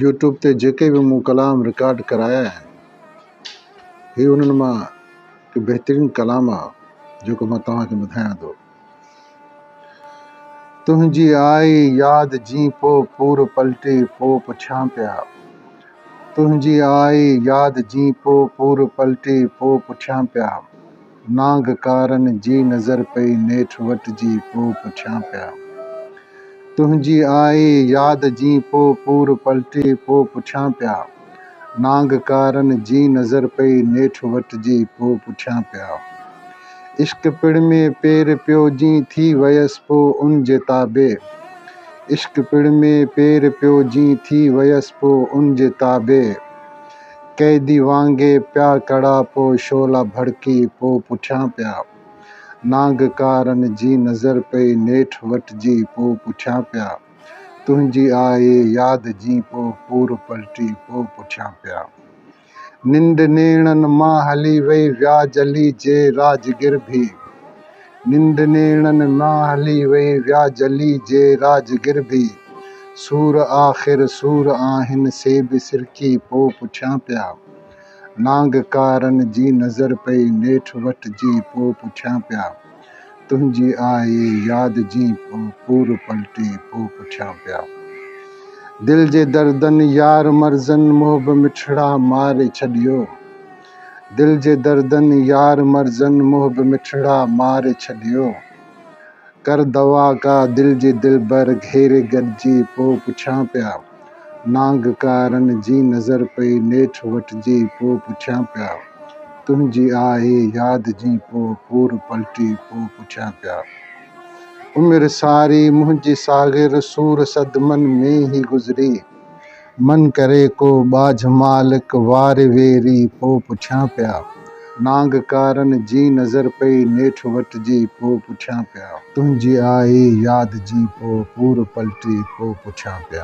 YouTube تي جيڪي به مون ڪلام رڪارڊ ڪرايا آهن هي انهن مان هڪ بهترين ڪلام آهي جيڪو مان توهان کي ٻڌايان ٿو تنهنجي آئي ياد جي پو پور پلٽي پو پڇان پيا تنهنجي آئي ياد جي پو پور پلٽي پو پڇان پيا نانگ ڪارن جي نظر پئي نيٺ وٽ جي پو پٺيان پيا تنهنجي آئي ياد جي پو پور پلٽي پو پٺيان پيا نانگ ڪارن جي نظر پئي نيٺ وٽ جي پو پٺيان پيا عشق پڙ ۾ پير پيو جي ٿي ويس پو ان جي تابع عشق پڙ ۾ پير پيو جي ٿي ويس پو ان جي تابع. قيدي وانگي پيا ڪڙا پو شعلا ڀڙڪي پو پٺيان پيا نانگ ڪارن جي نظر پئي نيٺ وٽجي پو پٺيان پيا تنهنجي آئي ياد جين پو پور پلٽي پو پٺيان پيا ننڊ نيڻن مان هلي وئي وياجلي جي راجگر ڀي ننڊ نيڻن مان هلي وئي ويا جلي جي راجگر به سور آخر سور آهن سي به سرڪي پو پٺيان پيا نانگ ڪارن جي نظر پئي نيٺ وٽ جي پو پٺيان پيا تنهنجي آئي ياد جي پو پور پلٽي پو پٺيان پيا دل جي دردن يار مرزن محب مٺڙا ماري ڇڏيو. دل جي دردن يار مرزن محب مٺڙا مار ڇڏيو ڪر دوا ڪا دل جي دلبر گهيري گڏجي پو پڇان پيا نانگ ڪارن جي نظر پئي نيٺ وٽجي پو پڇان پيا تنهنجي آهي ياد جي پو پور پلٽي پو پڇان پيا عمر ساري منهنجي ساغر سور صدمن ۾ هي گذري. من ڪري ڪو ٻاجهه مالڪ وار ويري پو پڇيان پيا. نانگ ڪارن جي نظر پئي نيٺ وٽ جي پو پڇيان پيا. تنهنجي آئي ياد جي پو پور پلٽي پو پڇيان پيا.